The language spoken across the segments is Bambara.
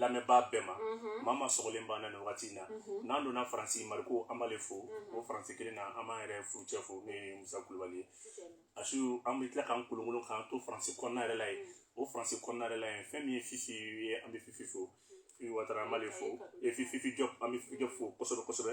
lamɛnbaa bɛɛ ma mhm. mama sɔgɔlen b'an na nin wagati in na mhm. n'an donna faransi mariko an b'ale fo mhm. o faransi kelen na an b'an yɛrɛ furucɛ fo n'o ye musa kulubali ye a su an bɛ tila k'an kolonkolon k'an to faransi kɔnɔna yɛrɛ la ye o faransi kɔnɔna yɛrɛ la ye fɛn min ye fifi ye an bɛ fifi fo fifi watara an b'ale fo e fifi jɔp an bɛ fifi jɔp fo kosɛbɛ kosɛbɛ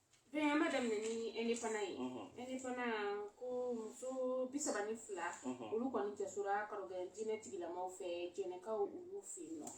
Bɛn'a daminɛ ni indépendant ye unhun indépendant ko muso 32 unhun olu kɔni jasora karogen diinɛ tigilamaw fɛ jɛnɛkaw olu fe yen nɔ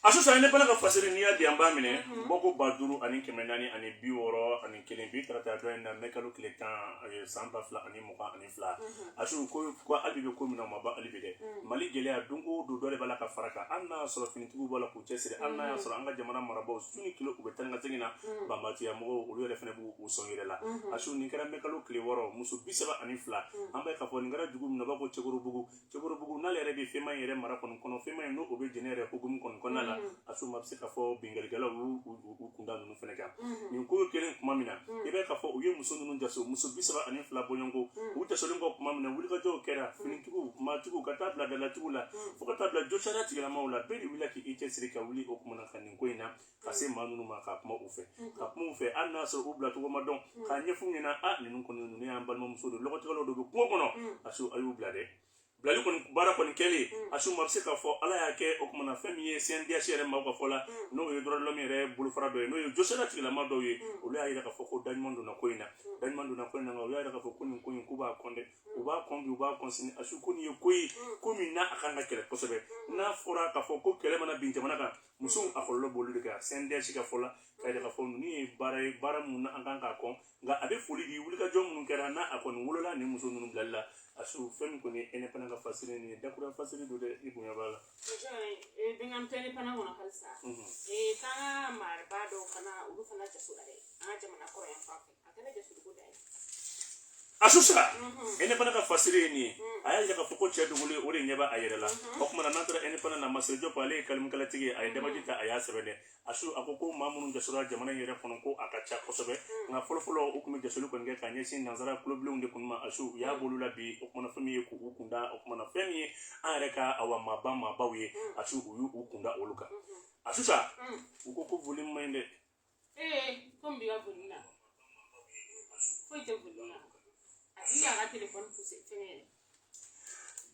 a su sa indépendant ka fasiri n'i y'a di an b'a minɛ unhun bɔko 5000 ani kɛmɛ naani ani bi wɔɔrɔ ani kelen bi tarata dɔn in na mai kalo tile 10 ee san 2020 ani fila a su ko hali bi an bɛ ko min na o ma ban hali bi dɛ mali gɛlɛya don o don dɔ de b'a la ka fara a kan hali n'a y'a sɔrɔ finitigiw b'a la k'u cɛsiri hali n'a y'a sɔrɔ an ka jamana marabaaw su ni tile u bɛ taa ni ka segin na banbatiya mɔgɔw olu yɛrɛ fana b'u sɔn yira la a su nin kɛra mɛkalo tile wɔɔrɔ muso bi saba ani fila an b'a ye k'a fɔ nin kɛra dugu min na u b'a ko cɛkorobugu cɛkɔrɔbugu n'ale yɛrɛ bɛ fɛmayi yɛrɛ mara kɔnɔ kɔnɔ fɛmayi n'o bɛ jɛnɛ yɛrɛ hukumu kɔnɔ kɔnɔna la mm. a su maa bɛ se k'a fɔ binkalikɛlaw u kunda ninnu fana kan mm. nin ko kɛlen tuma min na mm. i b'i k'a fɔ u ye muso ninnu jaso muso bi saba ani fila bɔɲɔgɔnko u jasolen kɔ tuma min na wulikajɔw kɛra finitigiw maatigiw ka taa bila dalatigiw la fo ka taa bila josira tigilamaw la bɛɛ de wulila k'i cɛsiri ka wuli o kuma na ka nin ko in na ka se maa minnu ma ka kuma u fɛ ka kuma u fɛ hali n'a sɔrɔ u bilacogo ma dɔn k'a ɲɛfɔ u ɲɛna a ninnu kɔni ninnu y'an balimamuso don lɔgɔtigɛlaw don kungo kɔnɔ a su a y'u bila dɛ bilali kɔni baara kɔni kɛlen a su maa bɛ se k'a fɔ ala y'a kɛ o kuma na fɛn min ye CNDH yɛrɛ maaw ka fɔ la n'o ye droits de l'homme yɛrɛ bolofara dɔ ye n'o ye josira tigilama dɔw ye olu y'a yira k'a fɔ ko daɲuman donna ko in na daɲuman donna ko in na u y'a yira k'a fɔ ko nin ko in k'u b'a kɔn dɛ u b'a kɔn bi u b'a kɔn sini a su ko nin ye ko ye ko min n'a ka kan ka kɛlɛ kosɛbɛ n'a fɔra k'a fɔ ko kɛlɛ mana bin jamana kan musow a kɔlɔlɔ b'olu de kan CNDH ka fɔ la k'a yira k'a fɔ ninnu ye baara ye baara minnu na an ka kan k'a kɔn nka a bɛ foli di wulikajɔ minnu kɛra n'a a kɔni wolola ni muso ninnu bilali la a su fɛn min kɔni ye indépendant ka fasiri nin ye dakura fasiri don dɛ i bonya b'a la. bɛ k'an to indépendant kɔnɔ halisa k'an ka maaba dɔw fana olu fana jasora dɛ an ka jamana kɔrɔn yan fan fɛ. a su sa indépendant ka fasiri ye nin ye a y'a yira k'a fɔ ko cɛ dogolen o de ɲɛ b'a yɛrɛ la o tuma na n'an taara indépendant na masire jɔp ale ye kalimikalatigi ye a ye dabaji ta a y'a sɛbɛn dɛ a su a ko ko maa minnu jasora jamana in yɛrɛ kɔnɔ ko a ka ca kosɛbɛ nka fɔlɔfɔlɔ u tun bɛ jasoli kɔni kɛ ka ɲɛsin nansara tulobilenw de kun ma a su u y'a bɔ olu la bi o kuma na fɛn min ye k'u kunda o kuma na fɛn min ye an yɛrɛ ka awa maaba maabaw ye a su u y'u kunda olu kan a su sa u ko ko voli man ɲi dɛ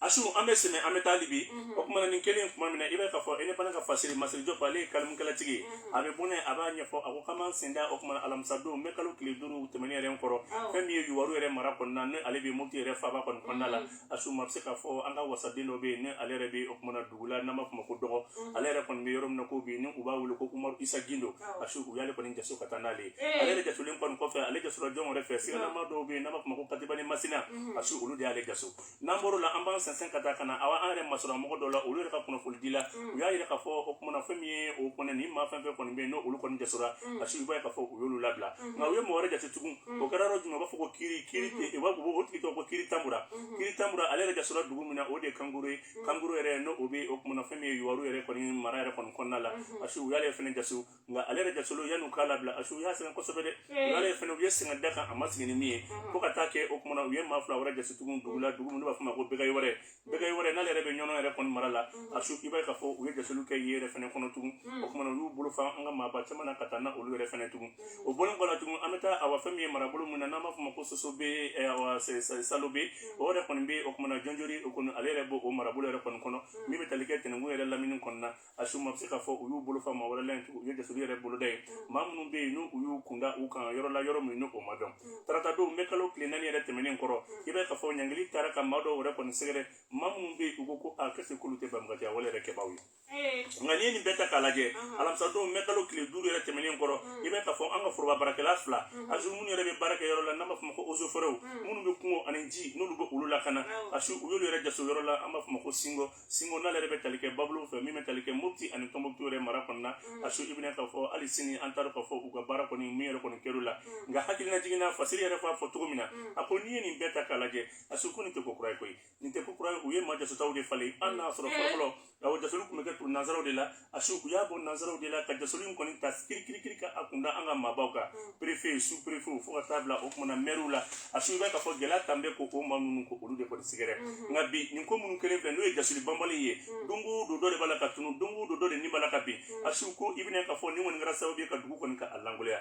A su an bɛ sen na an bɛ taa hali bi o tuma na nin kɛlen tuma min na i b'i k'a fɔ indépendant ka fasiri masire jɔp ale ye kalimikalatigi a bɛ bɔn a b'a ɲɛfɔ a ko k'an b'an sen da o tuma alamisadon mɛkalo tile duuru tɛmɛnen yɛrɛ kɔrɔ fɛn min ye yuwaru yɛrɛ mara kɔnɔna na ale bɛ moti yɛrɛ faaba kɔnɔnada la a su maa bɛ se k'a fɔ an ka wasaden dɔ bɛ yen ni ale yɛrɛ bɛ o kuma na dugu la n'an b'a fɔ ma ko dɔgɔ mhm. ale yɛrɛ kɔni bɛ yɔrɔ min na ko bi ni u b'a wele ko umaru isa gindo a su u y'ale kɔni jaso ka taa n'ale ye eh. ale de jasolen kɔni kɔfɛ ale jasora jɔn wɛrɛ fɛ siganamaa dɔw bɛ yen n'an b'a fɔ ma ko katibani masina mhm. a su olu de y'ale jaso n'an bɔr'o la an b'an sɛnsɛn ka taa ka na awa an yɛrɛ masɔrɔ mɔgɔ dɔw la olu yɛrɛ ka kunnafoni di la mhm. u y'a yira k'a fɔ o kuma na fɛn min ye o kɔni ni maa fɛn fɛn kɔni bɛ yen n'olu kɔni jasora a su i b'a ye k'a fɔ u y'olu labila nka u ye mɔgɔ wɛrɛ jaso tugun o kɛra yɔrɔ jumɛn u b'a fɔ ko kiri kiri tɛ u b'a fɔ o tigi tɔgɔ ko kiri tanbura kiri tanbura ale yɛrɛ jasora dugu min na o de ye kankuru ye kankuru yɛrɛ n'o o bɛ o kumana fɛn min ye yuwaru yɛrɛ kɔni mara yɛrɛ kɔni kɔnɔna la a su u y'ale fɛnɛ jaso nka ale yɛrɛ jasolen yanni u k'a labila a su u y'a sɛgɛn kosɛbɛ dɛ u y'ale fɛnɛ u ye sɛgɛn d'a kan a ma sigi ni min ye fo ka taa kɛ o kumana u ye maa fila wɛrɛ jaso tugun dugu la dugu min n'u b'a fɔ ma ko bɛgɛ wɛrɛ bɛgɛ wɛrɛ n'ale yɛrɛ bɛ ɲɔnɔ yɛrɛ kɔni mara la a su i b'a ye k'a fɔ u ye jasoliw kɛ yen yɛrɛ fɛnɛ kɔnɔ tugun o kumana u y'u bolo fa an ka maaba caman na ka taa na olu yɛrɛ fɛnɛ tugun o bɔlen kɔ la tugun an bɛ taa awa fɛn min ye marabolo min na n'an b'a fɔ ma ko sosobe eh, awa se- se- salobe o yɛrɛ kɔni bɛ o kumana jɔnjori o kɔni ale yɛrɛ b'o o marabolo yɛrɛ kɔni kɔnɔ min bɛ tali kɛ tɛnɛnkun yɛrɛ lamini kɔni na a su maa bɛ se k'a fɔ u y'u bolo fa maa wɛrɛ la tugun u ye jasoli yɛrɛ boloda ye maa minnu bɛ yen n'u u y'u kunda u kan yɔrɔ la yɔrɔ min n'o ma dɔn tarata don mɛ kalo tile naani yɛrɛ tɛmɛnen kɔrɔ i b'a ye k'a fɔ ɲangili taara ka maa dɔw yɛrɛ kɔni sɛgɛrɛ maa minnu bɛ yen u ko ko a kɛ se k'olu tɛ banbaganciya wale yɛrɛ kɛbaaw ye nka n'i ye nin bɛɛ ta k'a lajɛ alamisa don mɛ kalo tile duuru yɛrɛ tɛmɛnen kɔrɔ i b'a ye k'a fɔ an ka foroba baarakɛla fila asu minnu yɛrɛ bɛ baara kɛ yɔrɔ la n'an b'a fɔ o ma ko ozoforɛw minnu bɛ kungo ani ji n'olu bɛ olu lakana asu u y'olu yɛrɛ jaso yɔrɔ la an b'a fɔ o ma ko singo singo n'ale yɛrɛ bɛ tali kɛ babolo fɛ min bɛ tali kɛ mopti ani tɔnbɔkutu yɛrɛ mara kɔnɔna a su i bɛn'a ye k'a fɔ hali sini an t'a dɔn k'a fɔ u ka baara kɔni min yɛrɛ kɔni kɛr'u la nka hakililajigin na fasiri yɛrɛ f'a fɔ cogo min na a ko n'i ye nin bɛɛ ta k'a lajɛ a su ko nin tɛ ko kura ye koyi nin tɛ ko kura ye u ye maa jasotaw de falen an n'a sɔrɔ fɔlɔfɔlɔ awa jasoli tun bɛ kɛ tu- nansaraw de la a su u y'a bɔ nansaraw de la ka jasoli in kɔni ta kirikirikiri ka a kunda an ka maabaw kan perefe su perefe fo ka taa bila o kumana mɛriw la a su i b'a ye k'a fɔ gɛlɛya tun bɛ ko o maa ninnu ko olu de kɔni sɛgɛrɛ nka bi nin ko minnu kɛlen filɛ n'o ye jasoli banbali ye don o don dɔ de b'a la ka tunu don o don dɔ de ni b'a la ka bin a su ko i bɛn'a ye k'a fɔ nin kɔni kɛra sababu ye ka dugu kɔni ka a lankolonya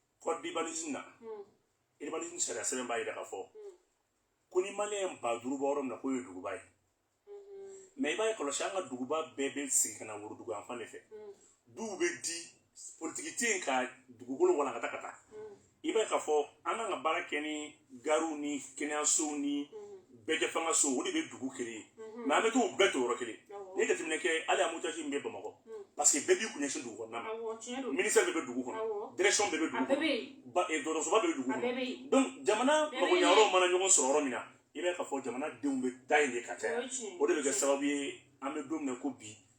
code d'urbanisme na urbanisme hmm. sariya sɛbɛn b'a yira k'a fɔ hmm. ko ni maliyɛn ba duuru bɛ yɔrɔ min na k'o ye duguba ye mais hmm. i b'a ye kɔlɔsi an ka duguba bɛɛ bɛ sin ka na worodugu yan fan de fɛ duw bɛ di politiki tɛ yen ka dugukolo walankata ka taa i b'a ye k'a fɔ an kan ka baara kɛ ni gariw ni kɛnɛyasow ni bɛɛjɛfangasow o de bɛ dugu kelen ye mais an bɛ t'o bɛɛ to yɔrɔ kelen n'i ye jateminɛ kɛ hali embouteillage min bɛ bamakɔ parce que bɛɛ b'i kun ɲɛsin dugu kɔnɔna ma ministère bɛɛ bɛ dugu kɔnɔ direction bɛɛ bɛ dugu kɔnɔ dɔgɔtɔrɔsoba bɛɛ bɛ dugu kɔnɔ donc jamana magoɲɛyɔrɔw mana ɲɔgɔn sɔrɔ yɔrɔ min na i b'a ye k'a fɔ jamana denw bɛ taa yen de ka caya o de bɛ kɛ sababu ye an bɛ don min na ko bi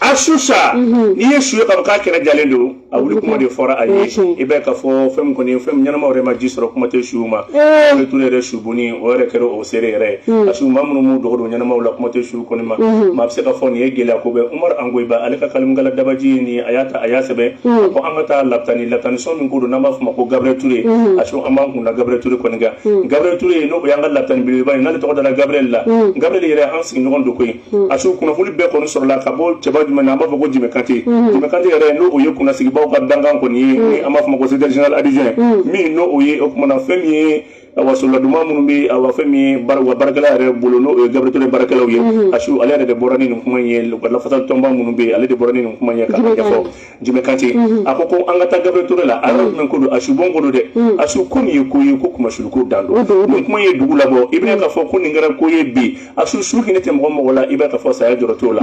a su sa mhm. n'i ye su ye kaba k'a kɛrɛ jalen don a wuli kuma de fɔra a ye i bɛ ka fɔ fɛn min kɔni fɛn min ɲɛnama yɛrɛ ma ji sɔrɔ kuma tɛ suw ma eh. gabriel ture yɛrɛ subon in o yɛrɛ kɛra o seere yɛrɛ ye hmm. a su maa minnu m'u dogo don ɲɛnamaw la kuma tɛ su kɔni ma hmm. maa bɛ se ka fɔ nin ye gɛlɛya ko bɛ umaru angoyiba ale ka kalimukala dabaji ye nin a y'a ta a y'a sɛbɛn hmm. a ko an ka taa lapitani lapitani sɔn min ko don n'an b'a fɔ ma ko gabriel ture a su an b'an kun da gabriel ture kɔni kan gabriel ture n'o y'an ka lapitani belebeleba ye n'ale tɔgɔ dara gabriel la gabriel yɛrɛ an sigiɲɔgɔn don koyi Hmm. a su kunnafoni bɛɛ kɔni sɔrɔla ka bɔ cɛba jumɛn na an b'a fɔ ko jimɛ kante hmm. jimɛ kante yɛrɛ n'o o ye kunnasigibaw ka dankan kɔni ye hmm. ni an b'a fɔ ma ko secrétaire général adjoint min n'o o ye o kuma na fɛn min ye awa sɔrɔla duman minnu bɛ awa fɛn min ye awa baarakɛla yɛrɛ bolo n'o ye gabriel ture baarakɛlaw ye a su ale yɛrɛ de bɔra ni nin kuma in ye o ka lafasali tɔnba minnu bɛ yen ale de bɔra ni nin kuma in ye k'a ɲɛfɔ jimɛ kante mhm. a ko ko an ka taa gabriel ture la a yɔrɔ jumɛn ko don a subon ko don dɛ mhm. a su ko nin ye ko ye ko kunmasuliko dan don nin kuma ye dugu labɔ i bɛna k'a fɔ ko nin kɛra ko ye bi a su su hinɛ tɛ mɔgɔ mɔgɔ la i b'a k'a fɔ saya jɔrɔ t'o la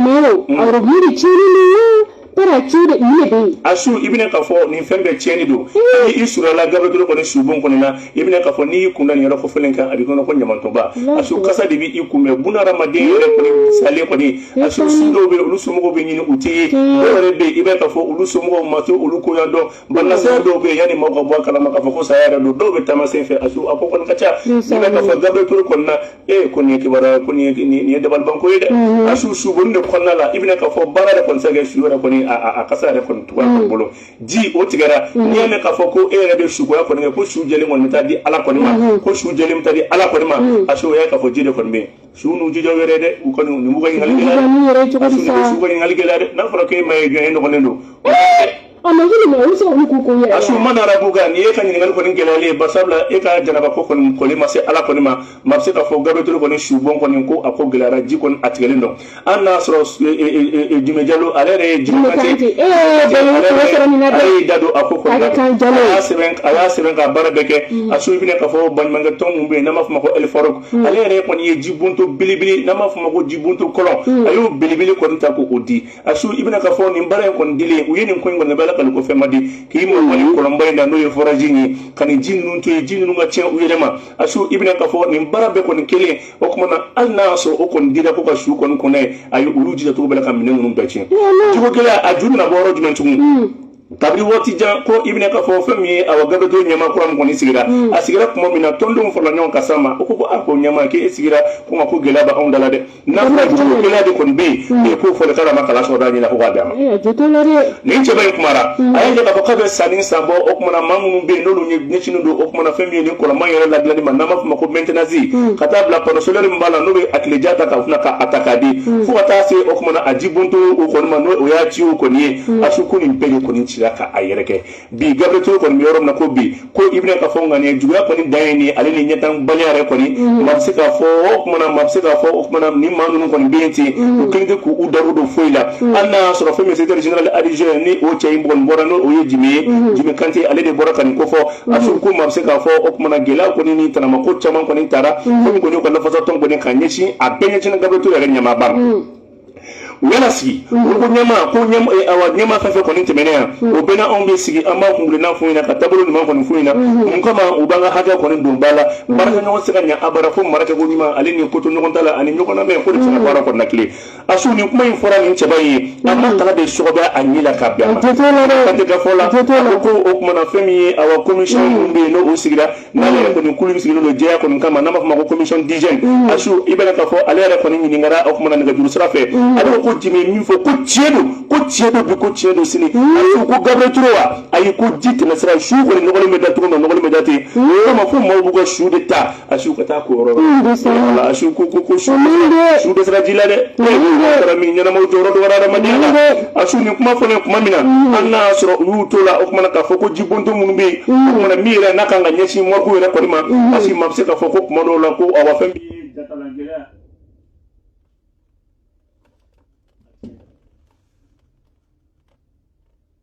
tara ci de i ne bɛ yen a su i bɛna k'a fɔ nin fɛn bɛɛ tiɲɛni don i surala gabriel ture kɔni subon kɔni na i bɛna k'a fɔ n'i y'i kun da nin yɔrɔ kofɔlen kan a b'i kɔnɔ ko ɲamantonba a su kasa de bɛ i kunbɛn bunahadamaden yɛrɛ kɔni salen kɔni a su su dɔw bɛ yen olu somɔgɔw bɛ ɲini u tɛ ye dɔw yɛrɛ bɛ yen i b'a k'a fɔ olu somɔgɔw ma to olu koɲa dɔn banasaya dɔw bɛ yen yanni maaw ka bɔ a kalama k'a fɔ ko saya yɛrɛ don dɔw bɛ taama sen fɛ a su a ko kɔni ka ca i b'a k'a fɔ gabriel ture kɔni na ee ko nin ye kibaruya ko nin ye nin ye dabalibanko ye dɛ a su subon in de kɔnɔna la i bɛna k'a fɔ baara yɛrɛ kɔni tɛ se ka kɛ su yɛrɛ kɔni a a kasa yɛrɛ kɔni tugu a bolo ji o tigɛra mhm. n'i y'a mɛn k'a fɔ ko e yɛrɛ bɛ sukoya kɔni kɛ ko su jɛlen kɔni bɛ taa di ala kɔni ma mhm. ko su jɛlen bɛ taa di ala kɔni ma mhm. parce que o y'a k'a fɔ ji de kɔni bɛ yen su n'u jija wɛrɛ dɛ u kɔni nin b'u ka ɲininkali gɛlɛya dɛ su ka ɲininkali gɛlɛya dɛ n'a fɔra k'e ma ye jɔn ye nɔgɔlen don a su man rabuka ni e ka ɲininkali kɔni gɛlɛyalen ye bari sabula e ka janaba ko kɔni koli ma se ala kɔni ma maa bɛ se k'a fɔ gabriel ture kɔni subon kɔni ko a ko gɛlɛyara ji kɔni a tigɛlen don an n'a sɔrɔ Jimɛ Jalo ale yɛrɛ ye Jimɛ Kante ye, e yɛrɛ ye Jalo ye, ale y'i da don a ko kɔnɔna na, a kɛ kan Jalo ye, a y'a sɛbɛn a y'a sɛbɛn ka baara bɛɛ kɛ, a su i bɛna k'a fɔ baɲumankɛ tɔn min bɛ yen n'an b'a fɔ o ma ko El Farouc, ale yɛrɛ kɔni ye jibonto belebele n'an b'a fɔ o ma ko jibonto kɔlɔn, a y'o belebele kɔni ta k'o di, a su i bɛna k'a fɔ nin baara in kɔni dilen u ye nin ko in kɔni kɛ Ala kama ko fɛn ma di, k'i mabɔ nin kɔlɔnba in na n'o ye forage in ye ka nin ji ninnu to yen, ji ninnu ka tiɲɛ u yɛrɛ ma, a su i bɛna k'a fɔ nin baara bɛɛ kɔni kɛlen o kuma na hali n'a y'a sɔrɔ o kɔni dira ko ka su kɔni ko n'a ye a ye olu jija cogo bɛɛ la ka minɛn ninnu bɛɛ tiɲɛ jiko gɛlɛya a ju bɛna bɔ yɔrɔ jumɛn tugun hmm. kabiri waati jan ko i bɛna k'a fɔ fɛn min ye awa gabriel ture ɲɛmaa kura min kɔni sigira hmm. a sigira tuma min na tɔndenw farala ɲɔgɔn kan ka s'a ma o ko ko a ko ɲɛmaa k'e sigira ko nka ko gɛlɛya bɛ anw da la dɛ n'a fɔra jiko gɛlɛya de kɔni bɛ yen e k'o fɔlikala ma kala sɔrɔ d'a ɲɛ la ko k'a d'a ma nin cɛba in kumara mm. a y'a jira k'a fɔ k'a bɛ sanni san bɔ o kumana maa minnu bɛ yen n'olu ɲɛsinnen don o kumana fɛn min ye nin kɔlɔnba in yɛrɛ ladilanni ma n'an b'a fɔ ma ko maintenance mm. ka taa bila panneau solaire min b'a la n'o bɛ a tileja ta ka fana ka a ta k'a di mm. fo ka taa se o kumana a jibonto o kɔni ma n'o o y'a ci o kɔni ye a su ko nin bɛɛ de kɔni cira k'a yɛrɛkɛ bi Gabriel Toure kɔni bɛ yɔrɔ min na ko bi ko i bɛna k'a fɔ ŋaniya juguya kɔni dan ye nin ale ni ɲɛtanbaliya yɛrɛ kɔni maa bɛ se k'a fɔ o kumana maa bɛ se k'a fɔ o kumana ni maa ninnu kɔni bɛ yen ten u kelen tɛ k'u da don foyi la hali n'a y'a sɔrɔ fɛn min ye secrétaire général adjoint ni o cɛ in kɔni bɔra n'o ye Jimɛ ye Jimɛ Kante ale de bɔra ka nin ko fɔ a su ko maa bɛ se k'a fɔ o kumana gɛlɛya kɔni ni tanamako caman kɔni tara fɛn min kɔni y'u ka lafasatɔn kɔni ka ɲɛsin a bɛɛ ɲɛsinnen Gabriel Toure yɛrɛ ɲɛmaaba ma u y'a lasigi ko ɲɛma ko ɲɛma fɛn fɛn kɔni tɛmɛnen yan o bɛna anw bɛ sigi an b'a kunna f'u ɲɛna ka taabolo ɲuman kɔni f'u ɲɛna mun kama u b'an ka hakɛ kɔni don ba la baarakɛ ɲɔgɔn se ka ɲɛ abada fo marakɛ ko ɲuman ale ni kotoɲɔgɔntala ani ɲɔgɔn lamɛn ko de bɛ se ka baara kɔni latilen a su nin kuma in fɔra nin cɛba in ye a ma taga de sɔgɔbɛ a ɲɛ la ka bɛn a ma ka tɛ ka fɔ la ko o kumana fɛn min ye awa commission minnu bɛ yen n'o sigira n'ale yɛrɛ kɔni kulu min sigilen don jɛya kɔni kama n'an b'a fɔ ma ko commission d'hygiène mm. asu i bɛna k'a fɔ ale yɛrɛ kɔni ɲininkara o kumana nɛgɛjuru sira fɛ mm. ale ko ko Jimɛ min fɔ ko tiɲɛ don ko tiɲɛ don bi ko tiɲɛ don sini mm. asu ko Gabriel Toure wa ayi ko ji tɛmɛ sira su kɔni nɔgɔlen bɛ da cogo min nɔgɔlen bɛ da ten o yɔrɔ ma fo maaw b'u ka su de ta asu ka taa ko yɔrɔ la asu ko ko ko su dɛsɛra ji la dɛ taara min ɲɛnamaw jɔyɔrɔ dɔgɔyara adamadenya la a su nin kuma fɔlen kuma min na hali n'a y'a sɔrɔ u y'u to la o kumana k'a fɔ ko jibonto minnu bɛ yen o kumana min yɛrɛ n'a kan ka ɲɛsin morgue yɛrɛ kɔni ma parce que maa bɛ se k'a fɔ ko kuma dɔw la ko awa fɛn min ye jakalangɛlɛya